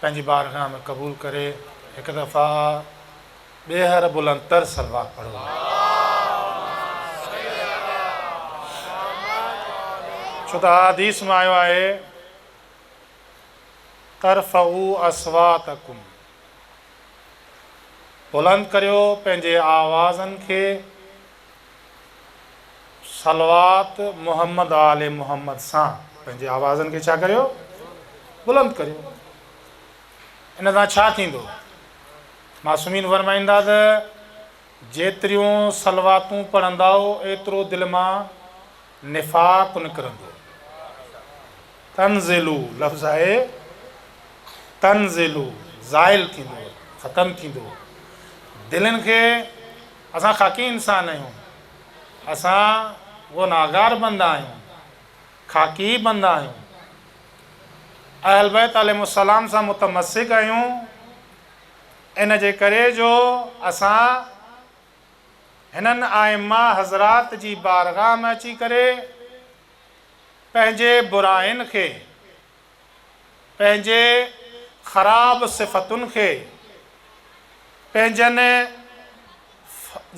پنهنجي بارگاھ ۾ قبول ڪري هڪ دفعه ٻيهر بلند تر صلوات پڙهو. ڇو ته احاديث ۾ آيو آهي ترفعو اصواتکم بلند ڪريو پنهنجي آوازن کي صلوات محمد آل محمد سان پنهنجي آوازن کي ڇا ڪريو؟ بلند ڪريو. ان سان ڇا ٿيندو؟ معصومين فرمائن ٿا ته جيتريون صلواتون پڙهندؤ ايترو دل مان نفاق نڪرندو. تنزلو لفظ آهي تنزلو زائل ٿيندو ختم ٿيندو. دلين کي اسان خاڪي انسان آهيون، اسان گنهگار بندا آهيون، خاڪي بندا آهيون، اهل بيت عليهم السلام سان متمسڪ آهيون، ان جي ڪري جو اسان هنن ائمه حضرات جي بارگاهه ۾ اچي ڪري پنهنجي براين کي پنهنجي خراب صفتن کي پنهنجن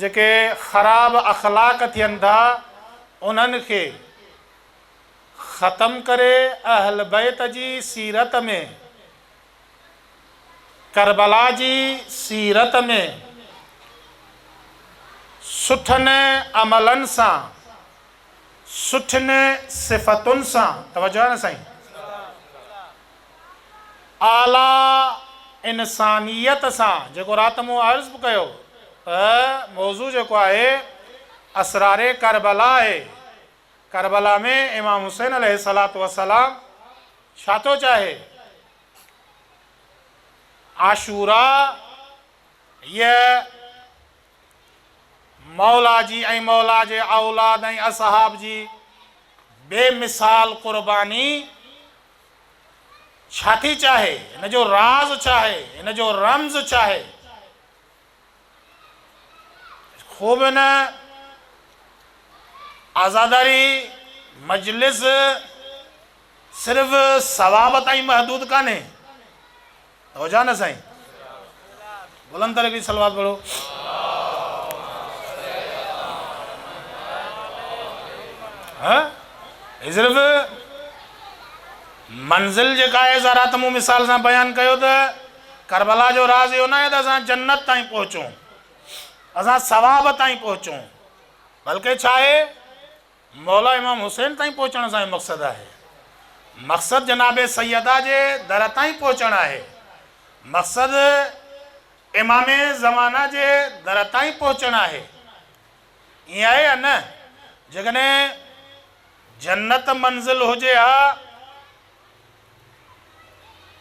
جيڪي خراب اخلاق ٿين ٿا انهن کي ختم ڪري اهل بيت جي سيرت ۾ ڪربلا جي سيرت ۾ سٺن عملن سان سٺين صفتن سان، توجه آهي نه سائين، اعليٰ انسانيت سان، جيڪو رات مون عرض به ڪيو ته موضوع جيڪو آهي اسرار ڪربلا آهي، ڪربلا ۾ امام حسين عليه الصلاة والسلام ڇا ٿو چاهي؟ عاشوراء هيء مولا جي ۽ مولا جي اولاد ۽ اصحاب جي بي مثال قرباني ڇا ٿي چاهي؟ ان جو راز ڇاهي؟ ان جو رمز ڇاهي؟ خوب ان عزاداري مجلس صرف ثواب تائين محدود ڪانهي. هو جا نه سائين بلند تري ڪي صلوات پڙهو ها هي صرف منزل جيڪا آهي سا رات مون مثال سان بيان ڪيو ته کربلا جو راز اهو نه آهي ته اسان جنت تائين پهچون اسان ثواب تائين پهچون بلڪه ڇا آهي مولا امام حسين تائين پهچڻ سان ئي مقصد آهي. مقصد جناب سيدا جي در تائين پهچڻ آهي. مقصد امام زمانه جي در تائين پهچڻ آهي. ائين آهي يا نه؟ جيڪڏهن جنت منزل هجي ها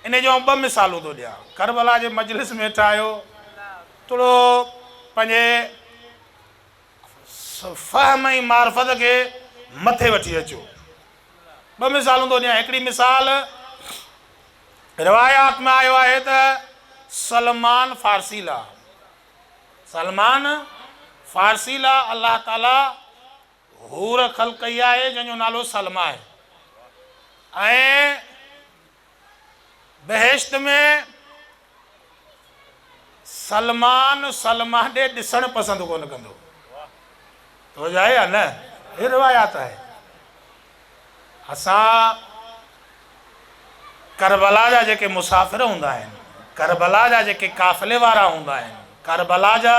ان جون ٻه مثالون ٿو ڏيان. ڪربلا جي مجلس ۾ ويٺا آهيو. توڙو پنهنجي فهم ۽ معرفت کي مٿي وٺي اچو. ٻه مثالون ٿو ڏيان. هڪڙي مثال روايات ۾ آيو آهي ته سلمان فارسي لا سلمان فارسي لا الله تعاليٰ حور خلق ڪئي آهي جنهن جو نالو سلميٰ آهي ۽ بهشت ۾ سلمان سلمان ڏي ڏسڻ پسند ڪونه ڪندو. توجه آهي يا نه؟ هي روايات آهي. اسان ڪربلا جا جيڪي مسافر هوندا آهن، ڪربلا جا جيڪي قافلي وارا هوندا آهن، ڪربلا جا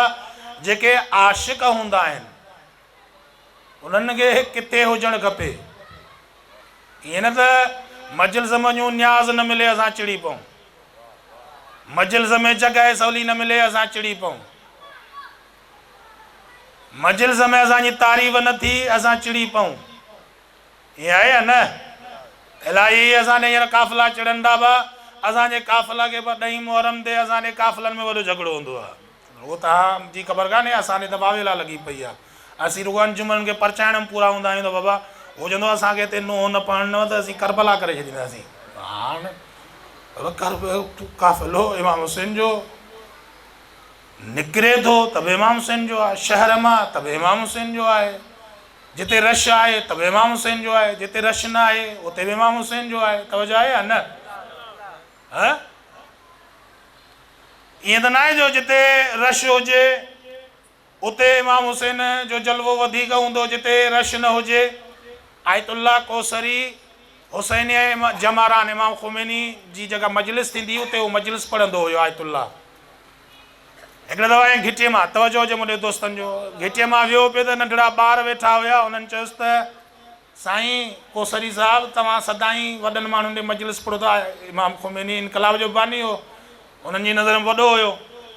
جيڪي عاشق هوندا آهن، انهن کي ڪٿي هجڻ کپي. ائين نه ته مجلس م جون نياز نه ملي اسان چڙي پئون. مجلس ۾ جڳهه سولي نه ملي اسان چڙي پئون. مجلس ۾ اسان جي تعريف نه ٿي اسان چڙي پئون. ائين آهي يا نه؟ الائي هي اسان ڏي هينئر قافلا چڙهندا به اسان جي قافلا کي به ڏهين محرم تي اسان ڏي قافلن ۾ وڏو جهڳڙو هوندو آهي. هو ته اها جي خبر ڪانهي اسان تي دٻاوي لا لڳي پئي آهي اسين رڳو انجمن ان کي پرچائڻ ۾ پورا هوندا آهيون ته بابا هو چوندو اسان کي هتي نوح نه پڙهڻو ته اسين ڪربلا ڪري ڇڏينداسين هاڻ قافلو امام حسين جو نڪري ٿو ته به امام حسين جو آهي شهر مان ته به امام حسين جو آهي جتي رش آهي ته به امام حسين جو آهي جتي رش نه آهي اتي به امام حسين جو آهي توجه آهي يا نه هه ائين ته ناهي جو جتي رش هجي اتي امام حسين جو جلوو وڌيڪ هوندو جتي رش نه هجي آيت الله ڪوثري حسينيه جماران امام خميني جي جيڪا مجلس ٿيندي هئي اتي هو مجلس پڙهندو هيو آيت الله هڪڙي دفعا ائين گهٽي مان توجه هجي مون ڏي دوستن جو گهٽي مان ويو پي ته ننڍڙا ٻار ويٺا هيا انهن چيس ته سائين ڪوسري صاحب توهان سدائين وڏن ماڻهن جي مجلس پڙهو ٿا امام خميني انقلاب جو باني هو انهن جي نظر ۾ وڏو هيو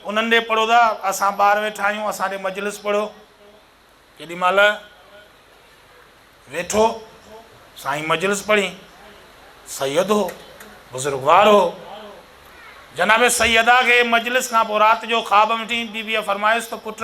انهن ڏي پڙهو ٿا اسان ٻاهر ويٺا آهيون اسان ڏي مجلس پڙهو ڪيڏي مهل ويٺو سائين مجلس پڙهين سيد هو بزرگوار هو جناب سيدا کي مجلس کان پوء رات جو خواب ۾ ٺين بيبيء فرمايس ته پٽ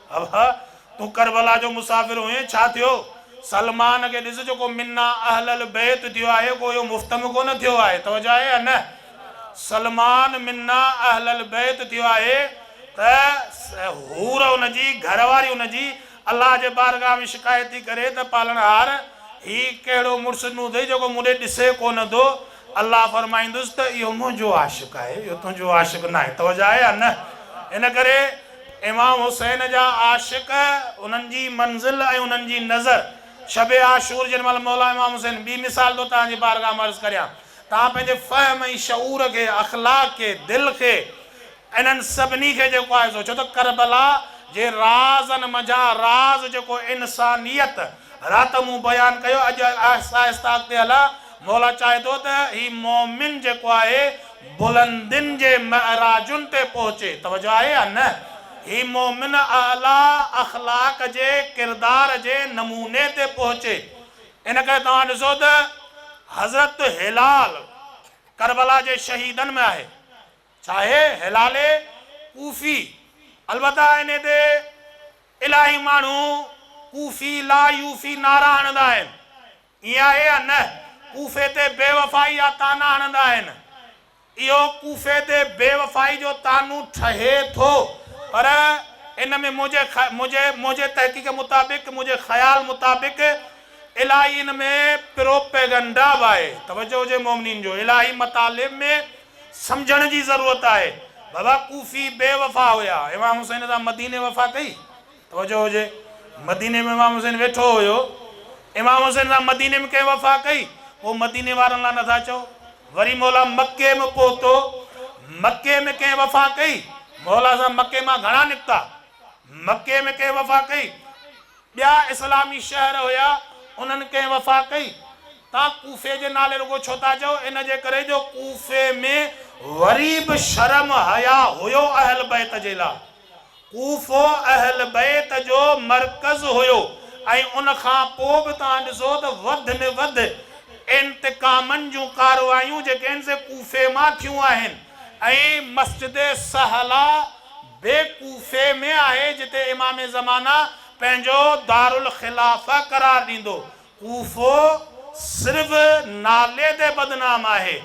ابا! تون ڪربلا جو مسافر هئين، ڇا ٿيو؟ سلمان کي ڏس جو ڪو منا اهل البيت ٿيو آهي، ڪو اهو مفتم ڪونه ٿيو آهي، توجه آهي يا نه؟ سلمان منا اهل البيت ٿيو آهي ته حور ان جي، گهر واري ان جي، الله جي بارگاهه ۾ شڪايت ٿي ڪري ته پالڻهار! هي ڪهڙو مڙس ڏنو اٿئي جيڪو مون ڏي ڏسي ڪونه ٿو؟ الله فرمائيندس ته اهو منهنجو عاشق آهي، اهو تنهنجو عاشق ناهي، توجه آهي يا نه؟ ان ڪري. امام حسين جا عاشق، انهن جي منزل ۽ انهن جي نظر. شب عاشور جنهن مهل مولا امام حسين ٻي مثال ٿو توهان جي بارگاھ ۾ عرض ڪريان. توهان پنهنجي فهم ۽ شعور کي، اخلاق کي، دل کي انهن سڀني کي جيڪو آهي سو ڇو ته ڪربلا جي رازن منجهان راز جيڪو انسانيت رات مون بيان ڪيو اڄ آهسته آهسته اڳتي هلان مولا چاهي ٿو ته هي مؤمن جيڪو آهي بلندين جي معراجن تي پهچي. توجه آهي يا نه؟ هي مؤمن اعليٰ اخلاق جي ڪردار جي نموني تي پهچي. ان ڪري توهان ڏسو ته حضرت هلال ڪربلا جي شهيدن ۾ آهي. ڇا آهي؟ هلال ڪوفي. البته انهي تي الاهي ماڻهو ڪوفي لا يوفي نعرا هڻندا آهن. ائين آهي يا نه؟ ڪوفي تي بيوفائي جا طعنا هڻندا آهن. اهو ڪوفي تي بيوفائي جو طعنو ٺهي ٿو، پر ان ۾ منهنجي منهنجي منهنجي تحقيق مطابق، منهنجي خيال مطابق الاهي ان ۾ پروپيگنڊا به آهي. توجه هجي مؤمنين جو الاهي مطالب ۾ سمجهڻ جي ضرورت آهي. بابا ڪوفي بيوفا هيا، امام حسين سان مديني وفا ڪئي. توجه هجي مديني ۾ امام حسين ويٺو هيو امام حسين سان مديني ۾ ڪنهن وفا ڪئي پوء مديني وارن لا نٿا چئو وري مولا مڪي م پهتو مڪي ۾ ڪنهن وفا ڪئي مولا سان مڪي مان گهڻا نڪتا مڪي ۾ ڪنهن وفا ڪئي ٻيا اسلامي شهر هيا انهن ڪنهن وفا ڪئي تان ڪوفي جي نالي رڳو ڇو ٿا چئو ان جي ڪري جو ڪوفي ۾ وري به شرم حيا هيو اهل بيت جي لا. ڪوفو اهل بيت جو مرڪز هيو ۽ ان کان پوء به توهان ڏسو ته وڌ ۾ وڌ انتقامن جون ڪارروايون جيڪي آهن سي ڪوفي مان ٿيون آهن ۽ مسجد صهلا به ڪوفي ۾ آهي جتي امام زمانه پنهنجو دارالخلافه قرار ڏيندو ڪوفو صرف نالي تي بدنام آهي.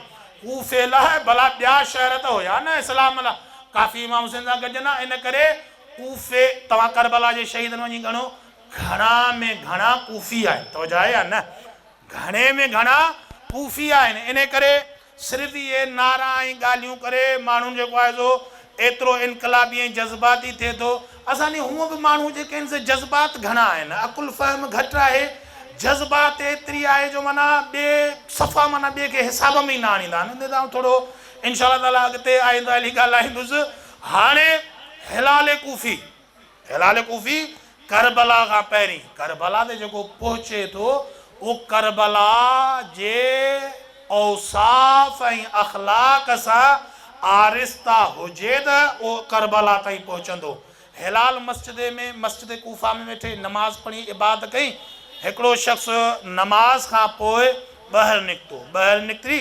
ڪوفي لاء ڀلا ٻيا شهر ته هيا نه اسلام لاء ڪافي امام حسين سان گڏجن ها ان ڪري ڪوفي توهان ڪربلا جي شهيدن وڃي ڳڻو گهڻا ۾ گهڻا ڪوفي آهن توجه آهي يا نه گهڻي ۾ گهڻا ڪوفي آهن ان ڪري صرف اهي نعرا ۽ ڳالهيون ڪري ماڻهن جيڪو آهي سو ايترو انقلابي ۽ جذباتي ٿئي ٿو. اسان ڏي هونء به ماڻهو جيڪي آهن سي جذبات گهڻا آهن، عقل فهم گهٽ آهي، جذبات ايتري آهي جو معنيٰ ٻئي صفا معنيٰ ٻئي کي حساب ۾ ئي نه آڻيندا آهن. ان تي آئون ٿورو انشاء الله تعالٰي اڳتي آئنده هلي ڳالهائيندس. هاڻي هلال ڪوفي. هلال ڪوفي ڪربلا کان پهرين ڪربلا تي جيڪو پهچي ٿو اهو ڪربلا جي اوصاف ۽ اخلاق سان آرسته هجي ته اهو ڪربلا تائين پهچندو. هلال مسجد ۾ مسجد ڪوفه ۾ ويٺي نماز پڙهي عبادت ڪئي. هڪڙو شخص نماز کان پوء ٻاهر نڪتو. ٻاهر نڪري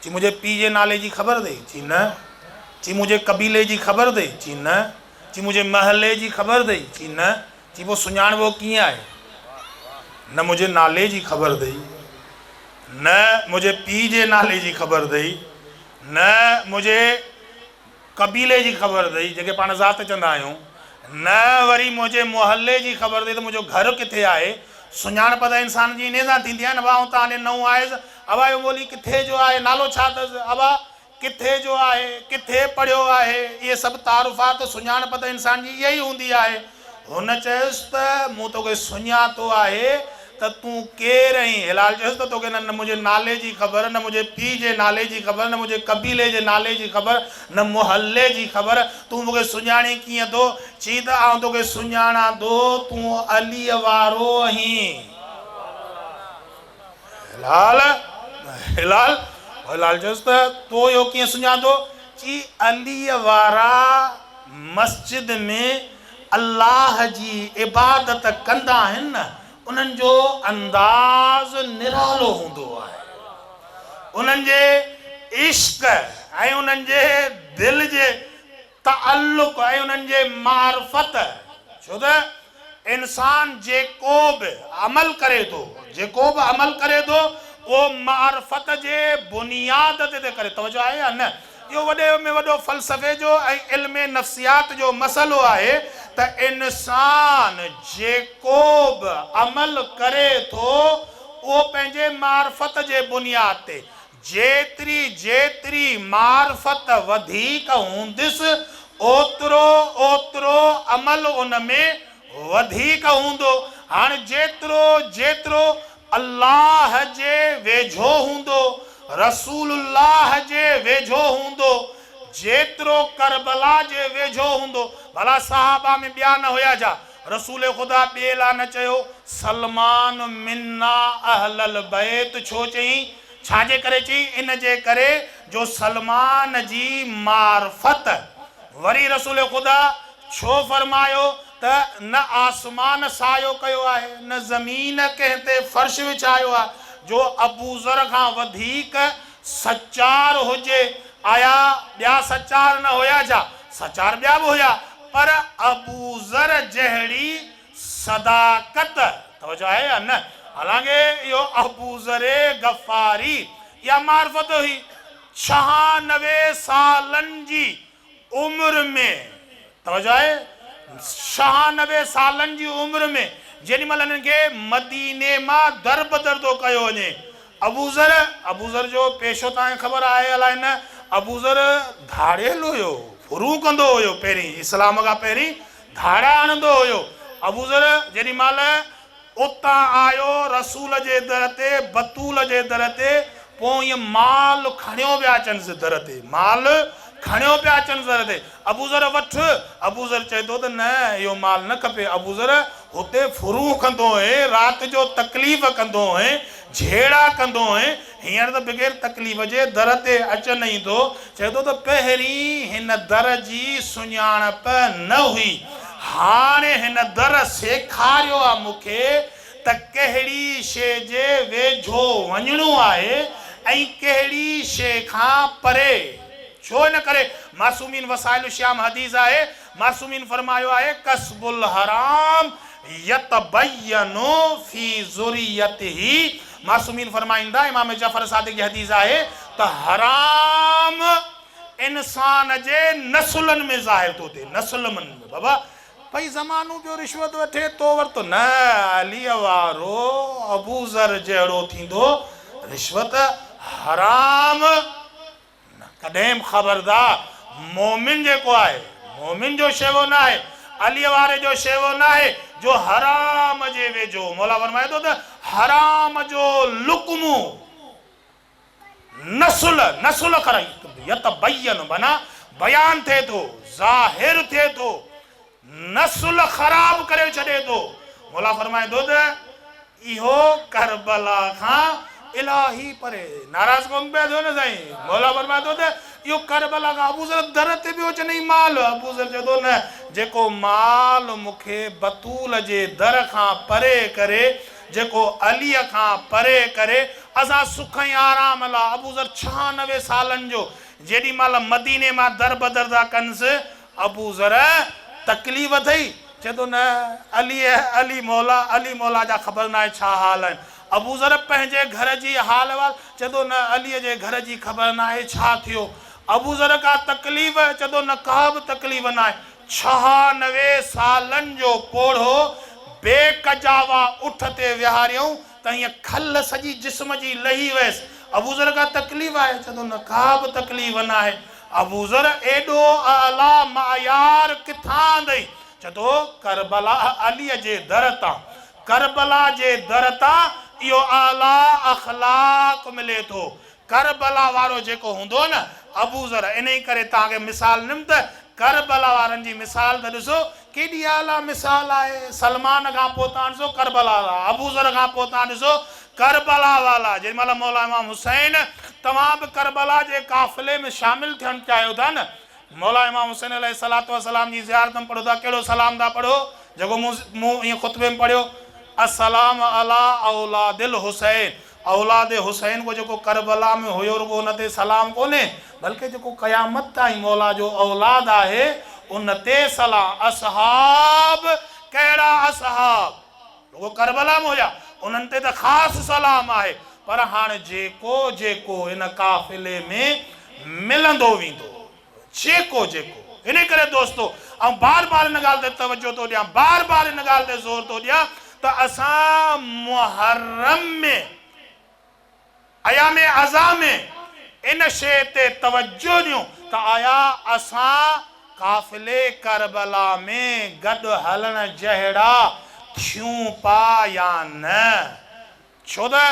چي منهنجي پيء جي نالي جي خبر اٿئي؟ چي نه. چي منهنجي قبيلي جي خبر اٿئي؟ چي نه. چي منهنجي محلي جي خبر اٿئي؟ چي نه. چي پوء سڃاڻبو ڪيئن آهي؟ نه منهنجي نالي جي خبر اٿئي، نه منهنجي پيء جي نالي جي خبر اٿئي، نه منهنجي قبيلي جي خبر اٿئي، جنهن کي پاڻ ذات چوندا آهيون، نه وري منهنجي محلي جي خبر اٿئي ته منهنجو گهر ڪٿي آهي. سڃاڻپ ته انسان جي انهيء سان ٿيندي آهي نه ابا، آئون ته هاڻي نئون آهيس. ابا جو ٻولي ڪٿي جو آهي، نالو ڇا اٿس؟ ابا ڪٿي جو آهي، ڪٿي پڙهيو آهي، اهي سڀ تعارفات، سڃاڻپ ته انسان جي اها ئي هوندي آهي. هن چيس ته مون توکي سڃاتو آهي ته تون ڪير اهين؟ هلال چيس ته توکي نه منهنجي نالي جي خبر، نه منهنجي پيء جي نالي جي خبر، نه منهنجي قبيلي جي نالي جي خبر، نه محلي جي خبر، تون مون کي سڃاڻين ڪيئن ٿو؟ چي ته آئون توکي سڃاڻان ٿو، تون عليء وارو اهين. هلال، هلال، هلال چيس ته تو اهو ڪيئن سڃاتو؟ چي عليء وارا. مسجد ۾ الله جي عبادت ڪندا آهن نه انهن جو انداز نرالو هوندو آهي انهن جي عشق ۽ انهن جي دل جي تعلق ۽ انهن جي معرفت ڇو ته انسان جيڪو به عمل ڪري ٿو، جيڪو به عمل ڪري ٿو، اهو معرفت جي بنياد تي ٿي ڪري. توجه آهي يا نه؟ اهو وڏي ۾ وڏو فلسفي جو ۽ علم نفسيات جو مسئلو آهي ته انسان جيڪو به عمل ڪري ٿو، اهو پنهنجي معرفت جي بنياد تي، جيتري جيتري معرفت وڌيڪ هوندس، اوترو اوترو عمل ان ۾ وڌيڪ هوندو. هاڻ جيترو جيترو الله جي ويجهو هوندو، رسول الله جي ويجهو هوندو، جيترو ڪربلا جي ويجهو هوندو. ڀلا صحابه ۾ ٻيا نه هيا ڇا؟ رسول خدا ٻئي لا نه چيو، سلمان منا اهل البيت ڇو چيائين؟ ڇا جي ڪري چيائين؟ ان جي ڪري جو سلمان جي معرفت. وري رسول خدا ڇو فرمايو ته نه آسمان سايو ڪيو آهي، نه زمين ڪنهن تي فرش وڇايو آهي، جو ابوذر کان وڌيڪ سچار هجي، آيا ٻيا سچار نه هيا ڇا؟ سچار ٻيا به هيا، پر ابوذر جهڙي صداقت، توجه آهي يا نه؟ حالانڪ اهو ابوذر غفاري اها معرفت هئي، ڇهانوي سالن جي عمر ۾ توجه آهي شهانوي سالن جي عمر ۾ جيڏي مهل هنن کي مديني مان دربدر ٿو ڪيو وڃي ابوذر ابوذر جو پيشو توهان کي خبر آهي الاء نه ابوذر ڌاڙيل هيو ڦرون ڪندو هيو پهرين اسلام کان پهرين ڌاڙا هڻندو هيو ابوذر جيڏي مهل اتان آيو رسول جي در تي، بتول جي در تي، پوء ائين مال کڻيو پيا اچنس در تي، مال کڻيو پيا اچنس در تي، ابوذر وٺ، ابوذر چئي ٿو ته نه اهو مال نه کپي، ابوذر هتي ڦرون ڪندو هئين، رات جو تڪليف ڪندو هئين، جهيڙا ڪندو هئين، هينئر ته بغير تڪليف جي در تي اچن ئي ٿو. چئي ٿو ته پهرين هن در جي سڃاڻپ نه هئي، هاڻي هن در سيکاريو آ مون کي ته ڪهڙي شيء جي ويجهو وڃڻو آهي ۽ ڪهڙي شيء کان پري. ڇو ان ڪري معصومين وسائل الشيام حديث آهي معصومين فرمايو آهي، ڪسب الحرام يتبين في ذريته معصومين فرمائين ٿا، امام جعفر صادق جي حديث آهي ته حرام انسان جي نسلن ۾ ظاهر ٿو ٿئي، نسل من ۾ بابا پئي زمانو پيو رشوت وٺي تو ورتو نه عليء وارو ابوذر جهڙو ٿيندو رشوت حرام. نه ڪڏهن به خبردار! مومن جيڪو آهي، مومن جو شيوو ناهي، عليء واري جو شيوو ناهي، جو حرام جي ويجهو، مولا فرمائي ٿو ته، حرام جو لقمو نسل، نسل کر، يتبين، معنيٰ بيان ٿئي ٿو، ظاهر ٿئي ٿو. نسل خراب ڪري ڇڏي ٿو. مولا فرمائي ٿو ته اهو ڪربلا کان الاهي پري ناراض ڪونه پئي ٿيو نه سائين. مولا فرمائي ٿو ته اهو ڪربلا کان ابوذر در تي پيو چنئي مال ابوذر چئي ٿو نه جيڪو مال مون کي بتول جي در کان پري ڪري جيڪو علي کان پري ڪري اسان سک ۽ آرام لا ابوذر ڇهانوي سالن جو جيڏي مهل مديني مان در بدر ٿا ڪنس ابو ذر تڪليف اٿئي؟ چئي ٿو نه عليء علي مولا علي مولا جا خبر ناهي ڇا حال آهن. ابو ذر پنهنجي گهر جي حال احوال؟ چئي ٿو نه عليء جي گهر جي خبر ناهي ڇا ٿيو. ابو ذر ڪا تڪليف؟ چئي ٿو نه ڪا به تڪليف ناهي. ڇهانوي سالن جو پوڙهو بي ڪجاوا اٺ تي ويهاريائون ته ائين کل سڄي جسم جي لهي ويس. ابوذر ڪا تڪليف آهي؟ چوي ٿو نه ڪابه تڪليف ناهي. ابوذر ايڏو اعليٰ معيار ڪٿان آندئي؟ چوي ٿو ڪربلاء عليء جي در تان. ڪربلاء جي در تان اهو اعليٰ اخلاق ملي ٿو. ڪربلا وارو جيڪو هوندو نه ابوذر انهي ڪري توهان کي مثال ڏنم ته ڪربلا وارن جي مثال ته ڏسو ڪيڏي اعليٰ مثال آهي سلمان کان پوء توهان ڏسو ڪربلا وارا ابوذر کان پوء توهان ڏسو ڪربلا والا جيڏي مهل مولا امام حسين توهان به ڪربلا جي قافلي ۾ شامل ٿيڻ چاهيو ٿا نه مولا امام حسين عليه الصلوة والسلام جي زيارت ۾ پڙهو ٿا ڪهڙو سلام ٿا پڙهو جيڪو مون مون ايئن خطبي ۾ پڙهيو السلام علي اولاد الحسين اولاد حسين ڪو جيڪو ڪربلا ۾ هيو رڳو ان تي سلام ڪونهي بلڪه جيڪو قيامت تائين مولا جو اولاد آهي ان تي سلام اصحاب ڪهڙا اصحاب رڳو ڪربلا ۾ هيا انهن تي ته خاص سلام آهي پر هاڻ جيڪو جيڪو ان قافلي ۾ ملندو ويندو. جيڪو جيڪو. ان ڪري دوستو آئون بار بار ان ڳالهه تي توجهه ٿو ڏيان، بار بار ان ڳالهه تي زور ٿو ڏيان ته اسان محرم ۾ ايام اضحيٰ ۾ ان شيء تي توجهه ڏيون ته آيا اسان قافلي ڪربلا ۾ گڏ هلڻ جهڙا ٿيون پيا يا نه. ڇو ته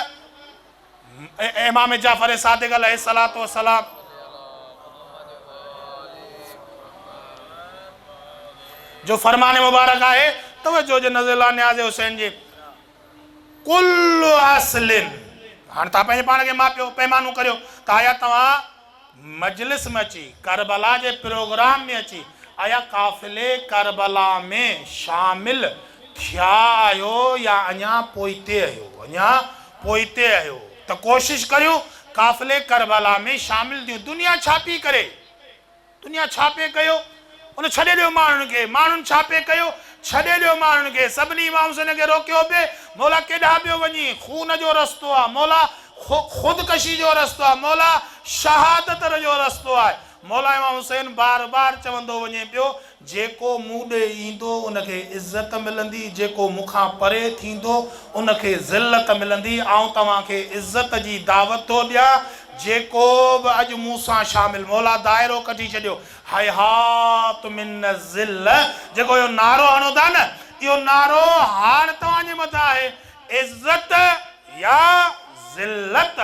امام جعفر صادق عليه الصلوة والسلام جو فرمان مبارڪ آهي توجه هجي نظر الله نياز حسين جي ڪل اصل هاڻ تان پنهنجي پاڻ کي ماپيو پيمانو ڪريو ته آيا توهان مجلس ۾ اچي، ڪربلا جي پروگرام ۾ اچي ايا قافلي ڪربلا ۾ شامل ٿيا آهيو يا اڃا پوئتي اهيو اڃا پوئتي اهيو ته ڪوشش ڪريون قافلي ڪربلا ۾ شامل ٿيون دنيا ڇا پي ڪري دنيا ڇا پي ڪيو ان ڇڏي ڏيو ماڻهن کي. ماڻهن ڇا پئي ڪيو؟ ڇڏي ڏيو ماڻهن کي. سڀني امام حسين کي روڪيو پئي، مولا ڪيڏانهن پيو وڃين؟ خون جو رستو آهي مولا، خودڪشي جو رستو آهي مولا، شهادت جو رستو آهي مولا امام حسين بار بار چوندو وڃي پيو، جيڪو مون ڏي ايندو ان کي عزت ملندي، جيڪو مون کان پري ٿيندو ان کي ذلت ملندي، آئون توهان کي عزت جي دعوت ٿو ڏيان، جيڪو به اڄ مون سان شامل مولا دائرو ڪڍي ڇڏيو، هيهات من الذل جيڪو اهو نعرو هڻو ٿا نه اهو نعرو هاڻ توهان جي مٿان آهي عزت يا ذلت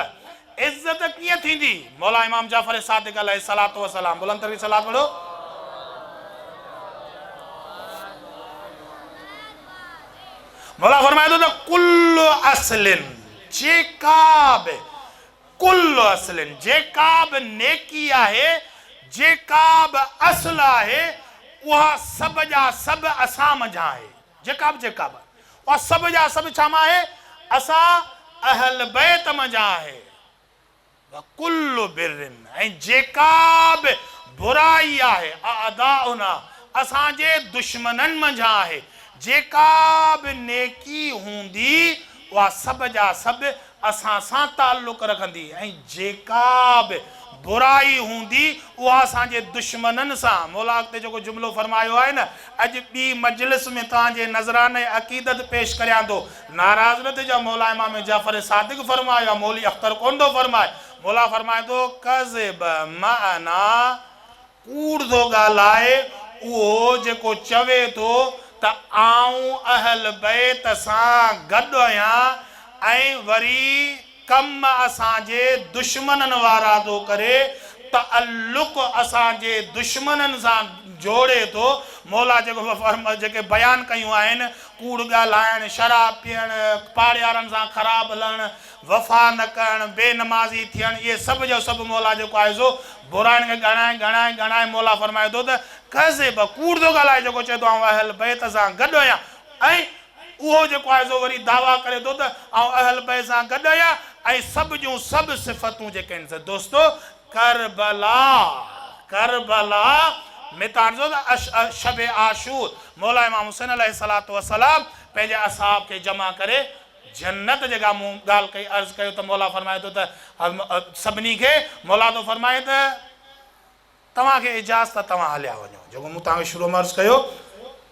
عزت ڪيئن ٿيندي مولا امام جعفر صادق عليه الصلوة والسلام بلند ترين صلوات پڙهو. مولا فرمائي ٿو ته ڪل اصل جيڪا به ڪل اصل، جيڪا به نيڪي آهي، جيڪا به اصل آهي، اها سڀ جا سڀ اسان منجهان آهي. جيڪا به، جيڪا به، اها سڀ جا سڀ ڇا مان آهي؟ اسان اهل بيت منجهان آهي. وڪل بر، ۽ جيڪا به برائي آهي، اعداؤنا، اسان جي دشمنن منجهان آهي. جيڪا به نيڪي هوندي، اها سڀ جا سڀ اسان سان تعلق رکندي ۽ جيڪا به برائي هوندي اها اسان جي دشمنن سان مولا اڳتي جيڪو جملو فرمايو آهي نه اڄ ٻي مجلس ۾ توهان جي نذرانه عقيدت پيش ڪريان ٿو ناراض نه ٿجو مولا امام جعفر صادق فرمايو آهي مولوي اختر ڪونه ٿو فرمائي مولا فرمائي ٿو ڪذب معنا ڪوڙ ٿو ڳالهائي اهو جيڪو چوي ٿو ته آئون اهل بيت سان گڏ آهيان ۽ وري ڪم اسان جي دشمنن وارا ٿو ڪري تعلق اسان جي دشمنن سان جوڙي ٿو مولا جيڪو جيڪي بيان ڪيون آهن ڪوڙ ڳالهائڻ شراب پيئڻ پاڙيارن سان خراب هلڻ وفا نه ڪرڻ، بي نمازي ٿيڻ، اهي سڀ جو سڀ مولا جيڪو آهي سو برائين کي ڳڻائي ڳڻائي ڳڻائي مولا فرمائي ٿو ته ڪذب، ڪوڙ ٿو ڳالهائي جيڪو چئي ٿو آئون اهل بيت سان گڏ آهيان ۽ اهو جيڪو آهي سو وري دعويٰ ڪري ٿو ته آئون اهل بيت سان گڏ آهيان ۽ سڀ جون سڀ صفتون جيڪي آهن سو دوستو ڪربلا ڪربلا ۾ ته هاڻ سوچو ته شب عاشور مولا امام حسين عليه الصلوة والسلام پنهنجي اصحاب کي جمع ڪري جنت جيڪا مون ڳالهه ڪئي عرض ڪيو ته مولا فرمائي ٿو ته سڀني کي مولا ٿو فرمائي ته توهان کي اجازت ته توهان هليا وڃو جيڪو مون توهان کي شروع ۾ عرض ڪيو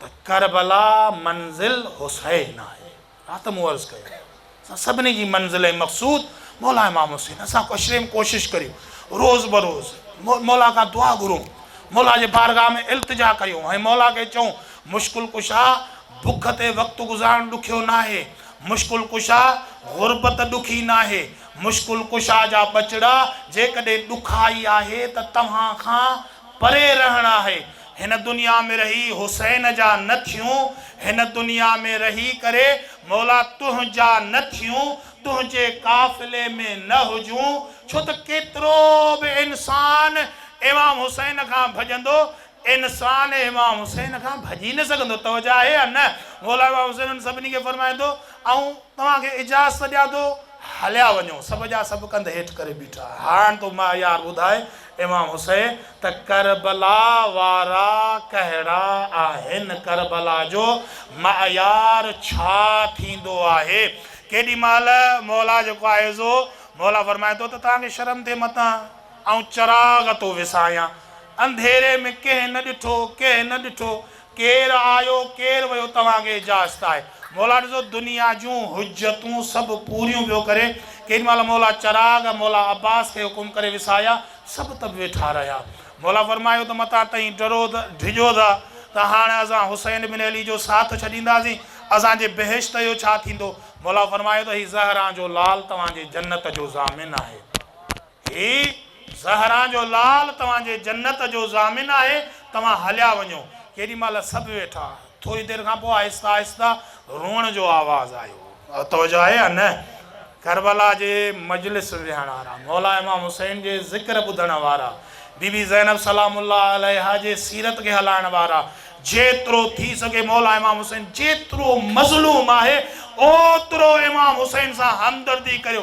ته ڪربلا منزل حسين آهي رات مون عرض ڪيو اسان سڀني جي منزل ۽ مقصود مولا امام حسين اسان ڪشريم ڪوشش ڪريون روز بروز مولا کان دعا گهرون مولا جي بارگاهه ۾ التجا ڪريون ۽ مولا کي چئون مشڪل ڪشا بک تي وقت گذارڻ ڏکيو ناهي، مشڪل ڪشا غربت ڏکي ناهي، مشڪل ڪشا جا ٻچڙا جيڪڏهن ڏکائي آهي ته توهان کان پري رهڻ آهي، هن دنيا ۾ رهي حسين جا نه ٿيون، هن دنيا ۾ رهي ڪري مولا تنهنجا نه ٿيون، تنهنجي قافلي ۾ نه هجون، ڇو ته ڪيترو به انسان امام حسين کان ڀڄندو انسان امام حسين کان ڀڄي نه سگهندو. توجه آهي يا نه؟ موليٰ امام حسين انهن سڀني کي فرمائي ٿو، آئون توهان کي اجازت ڏيان ٿو، هليا وڃو. سڀ جا سڀ ڪنڌ هيٺ ڪري بيٺا. هاڻ تون مهيار ٻڌاء امام حسين ته ڪربلا وارا ڪهڙا آهن؟ ڪربلا جو مهيار ڇا ٿيندو آهي؟ ڪيڏي مهل موليٰ جيڪو آهي سو موليٰ فرمائي ٿو ته توهان کي شرم ٿئي متان. آئون چراغ ٿو وسايان. انڌيري ۾ ڪنهن نه ڏٺو، ڪنهن نه ڏٺو. ڪير آيو، ڪير ويو، توهان کي اجازت آهي. مولا ڏسو دنيا جون حجتون سڀ پوريون پيو ڪري. ڪيڏي مهل مولا چراغ مولا عباس کي حڪم ڪري وسايا، سڀ تپ ويٺا رهيا. مولا فرمايو ته متان تئين ڊرو ٿا، ڊڄو ٿا ته هاڻ اسان حسين بن علي جو ساٿ ڇڏينداسين، اسان جي بهشت جو ڇا ٿيندو؟ مولا فرمايو ته هي زهران جو لال توهان جي جنت جو ضامن آهي. هي زهران جو لال توهان جي جنت جو ضامن آهي، توهان هليا وڃو. ڪيڏي مهل سڀ ويٺا. ٿوري دير کان پوء آهستي آهستي روئڻ جو آواز آيو. توجه آهي يا نه؟ ڪربلا جي مجلس ويهڻ وارا، مولا امام حسين جي ذڪر ٻڌڻ وارا، بي بي زينب سلام الله عليها جي سيرت کي هلائڻ وارا، جيترو ٿي سگهي مولا امام حسين جيترو مظلوم آهي، اوترو امام حسين سان همدردي ڪريو.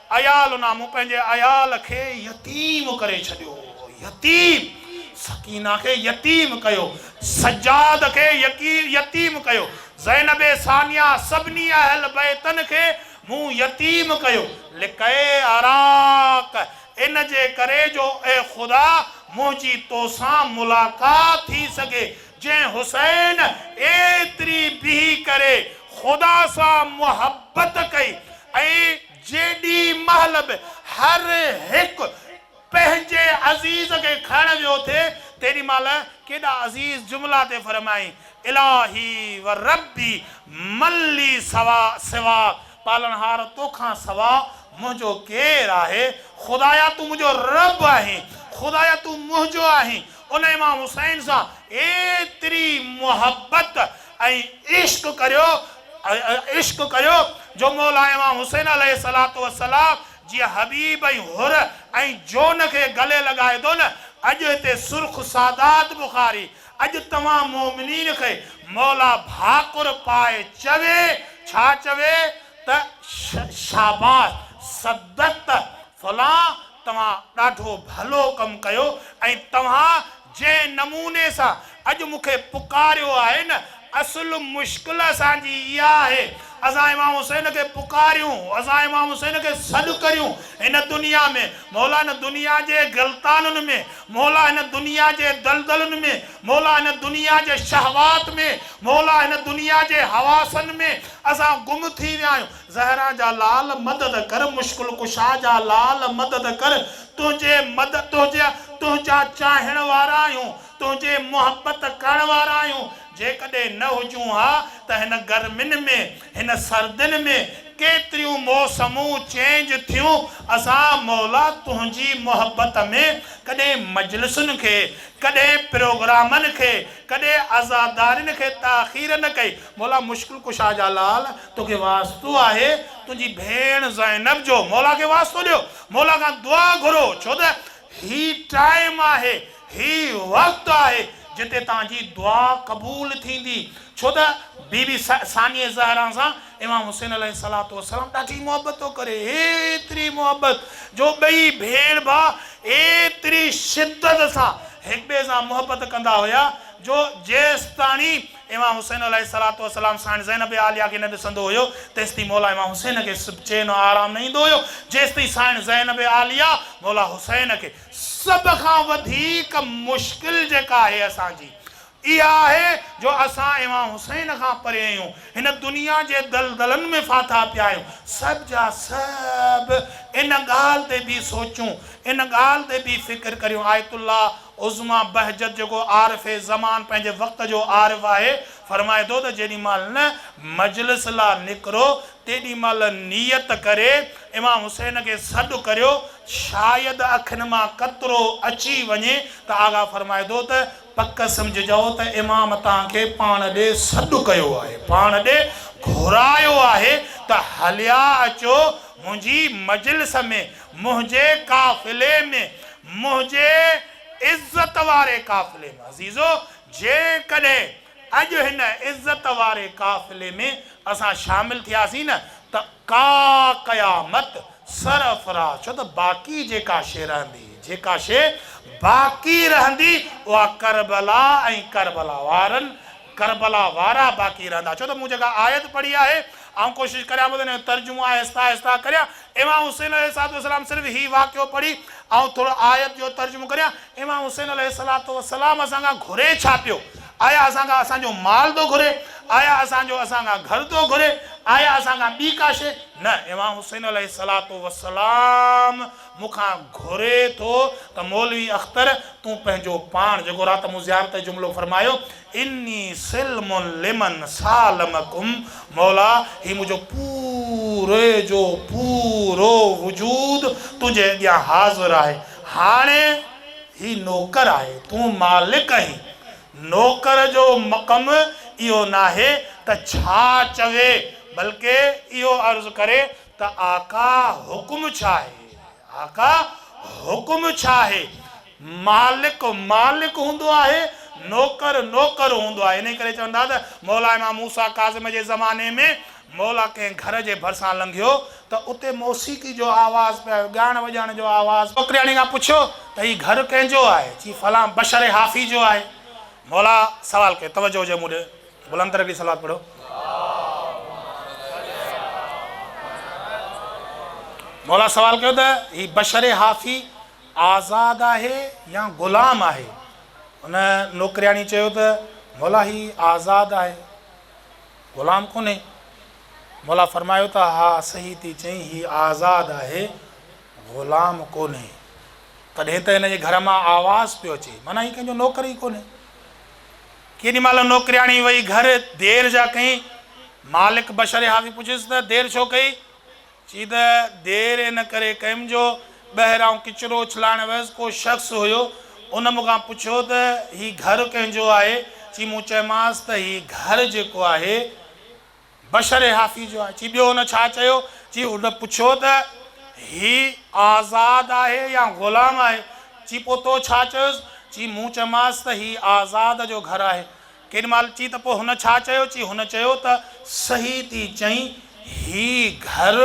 عيال نه مون پنهنجي عيال کي يتيم ڪري ڇڏيو هو يتيم سڪينه کي يتيم ڪيو سجاد کي يتيم ڪيو زينب ثانيه سڀني اهل بيتن کي مون يتيم ڪيو لڪئي عراق ان جي ڪري جو اي خدا منهنجي توسان ملاقات ٿي سگهي جنهن حسين ايتري بيهي ڪري خدا سان محبت ڪئي ۽ جيڏي مهل به هر هڪ پنهنجي عزيز کي کڻڻ ويو ٿي تيڏي مهل ڪيڏا عزيز جملا ٿي فرمائين الاهي و ربي من لي سوا سوا پالڻهار تو کان سوا منهنجو ڪير آهي خدايا تون منهنجو رب آهين خدايا تون منهنجو آهين ان امام حسين سان ايتري محبت ۽ عشق ڪريو عشق ڪريو جو مولا امام حسين عليه الصلوة والسلام جيئن حبيب ۽ حر ۽ جون کي گلي لڳائي ٿو نه اڄ هتي سرخ سادات بخاري اڄ توهان مؤمنين کي مولا ڀاڪر پائي چوي ڇا چوي ته شاباس صدقت فلان توهان ڏاڍو ڀلو ڪم ڪيو ۽ توهان جنهن نموني سان اڄ مون کي پڪاريو آهي نه، اصل مشڪل اسان جي اها آهي، اسان امام حسين کي پڪاريون، اسان امام حسين کي سڏ ڪريون هن دنيا ۾، مولا هن دنيا جي غلطانن ۾، مولا هن دنيا جي دلدلن ۾، مولا هن دنيا جي شهوات ۾، مولا هن دنيا جي حواسن ۾ اسان گم ٿي ويا آهيون، زهرا جا لال مدد ڪر مشڪل ڪشا جا لال مدد ڪر تنهنجي مد تنهنجي تنهنجا چاهڻ وارا آهيون تنهنجي محبت ڪرڻ وارا آهيون جيڪڏهن نه هجون ها ته هن گرمين ۾ هن سردين ۾ ڪيتريون موسمون چينج ٿيون اسان مولا تنهنجي محبت ۾ ڪڏهن مجلسن کي ڪڏهن پروگرامن کي ڪڏهن عزادارين کي تاخير نه ڪئي مولا مشڪل ڪشا جا لال توکي واسطو آهي تنهنجي ڀيڻ زينب جو مولا کي واسطو ڏيو مولا کان دعا گهرو ڇو ته هي ٽائيم آهي هي وقت آهي جتي تنهنجي دعا قبول ٿيندي ڇو ته بي بي ثانيه زهرا سان امام حسين عليه الصلوة والسلام ڏاڍي محبت ٿو ڪري ايتري محبت جو ٻئي ڀيڻ ڀاء ايتري شدت سان هڪٻئي سان محبت ڪندا هيا جو جيستاڻي امام حسين عليه الصلوة والسلام ساڻ زينب عاليه کي نه ڏسندو هيو تيستائين مولا امام حسين کي چين و آرام نه ايندو هيو جيستائين ساڻ زينب عاليه مولا حسين کي سڀ کان وڌيڪ مشڪل جيڪا آهي اسان جي اها آهي جو اسان امام حسين کان پري آهيون هن دنيا جي دلدلن ۾ ڦاٿا پيا آهيون سڀ جا سڀ ان ڳالهه تي به سوچون ان ڳالهه تي به فڪر ڪريون آيت الله عظميٰ بهجت جيڪو عارف زمان پنهنجي وقت جو عارف آهي فرمائي ٿو ته جيڏي مهل نه مجلس لا نڪرو تيڏي مهل نيت ڪري امام حسين کي سڏ ڪريو شايد اکين مان قطرو اچي وڃي ته آغا فرمائي ٿو ته پڪ سمجهجئو ته امام تان کي پاڻ ڏي سڏ ڪيو آهي پاڻ ڏي گهرايو آهي ته هليا اچو منهنجي مجلس ۾ منهنجي قافلي ۾، منهنجي عزت واري قافلي ۾، عزيزو! جيڪڏهن اڄ هن عزت واري قافلي ۾ اسان شامل ٿياسين نه ته ڪا قيامت سرفراز، ڇو ته باقي جيڪا شيء رهندي، جيڪا شيء باقي رهندي، اها ڪربلا ۽ ڪربلا وارن ڪربلا وارا باقي رهندا ڇو ته مون جيڪا آيت پڙهي آهي آئون ڪوشش ڪريان پيو ته ان جو ترجمو آهستي آهستي ڪريان امام حسين عليه الصلوة والسلام صرف هي واقعو پڙهي آئون ٿورو آيت جو ترجمو ڪريان امام حسين عليه الصلوة والسلام اسان کان گهري ڇا پيو آيا اسان کان اسان جو مال ٿو گهري آيا اسان جو اسان کان گهر ٿو گهري آيا اسان کان ٻي ڪا شيء نه امام حسين عليه الصلوة والسلام مون کان گهري ٿو ته مولوي اختر تون پنهنجو پاڻ جيڪو رات مون زيارت ۽ جملو فرمايو اني سلم لمن سالمڪم مولا هي منهنجو پوري جو پورو وجود تنهنجي اڳيان حاضر آهي هاڻي هي نوڪر آهي تون مالڪ آهين نوڪر جو مقم اهو ناهي ته ڇا چوي بلڪه اهو عرض ڪري ته آقا حڪم ڇا آهي؟ آقا حڪم ڇا آهي؟ مالڪ مالڪ هوندو آهي، نوڪر نوڪر هوندو آهي. انهيء ڪري چون ٿا ته مولا امام موسيٰ ڪاظم جي زماني ۾ مولا ڪنهن گهر جي ڀرسان لنگهيو ته اتي موسيقي جو آواز پئي آيو، ڳائڻ وڄائڻ جو آواز. نوڪرياڻي کان پڇيو ته هي گهر ڪنهن جو آهي؟ چي فلان بشر حافي جو آهي. مولا سوال ڪيو، توجهه هجي مون ڏي. بلند ترين ڏي صلوات پڙهو. مولا سوال ڪيو ته هي بشر هافي آزاد آهي يا غلام آهي؟ ان نوڪرياڻي چيو ته مولا هي آزاد آهي غلام ڪونهي. مولا فرمايو ته ها صحيح ٿي چئين هي آزاد آهي غلام ڪونهي. تڏهن ته هن جي گهر مان آواز پيو اچي معنيٰ هي ڪنهن جو نوڪر ئي ڪونهي. ڪيڏي مهل نوڪرياڻي وئي گهر، دير جا ڪئين؟ مالڪ بشر حافي پڇيس ته دير ڇو ڪئي؟ چي ته دير ان ڪري ڪيم جو ٻهر آئون ڪچرو اڇلائڻ ويس، ڪو شخص هيو، ان مون کان پڇيو ته هي گهر ڪنهن جو آهي؟ چي مون چيمانس ته هي گهر جيڪو آهي، بشر حافي جو آهي. چي ٻيو هن ڇا چيو؟ چي هن پڇيو ته هي آزاد آهي يا غلام آهي؟ چي پوء تو ڇا چيوس؟ چي مون چيومانس ته هي آزاد جو گهر آهي. ڪيڏي مهل چي ته پوء هن ڇا چيو؟ چي هن چيو ته صحيح ٿي چئين هي گهر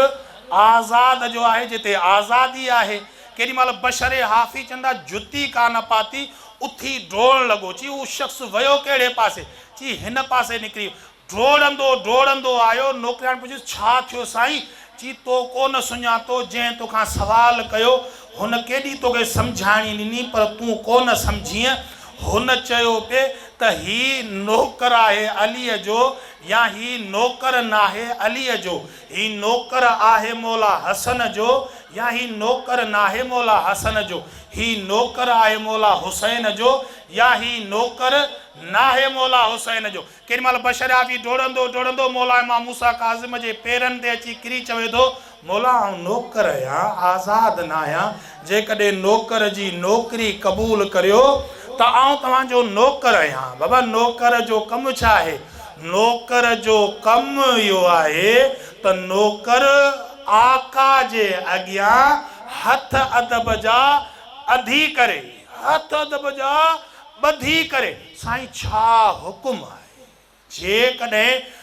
آزاد جو آهي جتي آزادي آهي. ڪيڏي مهل بشر حافي چندا جتي ڪا نه پاتي اٿي ڊوڙڻ لڳو. چي هو شخص ويو ڪهڙي پاسي؟ چي هن پاسي نڪري ويو. ڊوڙندو ڊوڙندو آيو، نوڪرياڻي پڇيس، ڇا ٿيو سائين؟ چي، تو ڪو نه سڃاتو، جنهن تو کان سوال ڪيو، هن ڪيڏي تو کي سمجهاڻي ڏني، پر تون ڪو نه سمجهينء. هن چيو پئي ته هي نوڪر آهي عليء جو يا هي نوڪر ناهي عليء جو، هي نوڪر آهي مولا حسن جو يا هي نوڪر ناهي مولا حسن جو، هي نوڪر آهي مولا حسين جو يا هي نوڪر ناهي مولا حسين جو. ڪيڏي مهل بشر عافي ڊوڙندو ڊوڙندو مولا امام موسيٰ ڪاظم جي پيرن تي اچي ڪري چوي ٿو، مولا آئون نوڪر آهيان، آزاد نه آهيان، جيڪڏهن نوڪر جي نوڪري قبول ڪريو ته آئون توهان جو نوڪر آهيان. بابا نوڪر جو ڪم ڇا آهي؟ نوڪر جو ڪم اهو آهي ته نوڪر آقا جي اڳيان هٿ ادب جا اڌي ڪري، هٿ ادب جا ٻڌي ڪري، سائين ڇا حڪم آهي؟ جيڪڏهن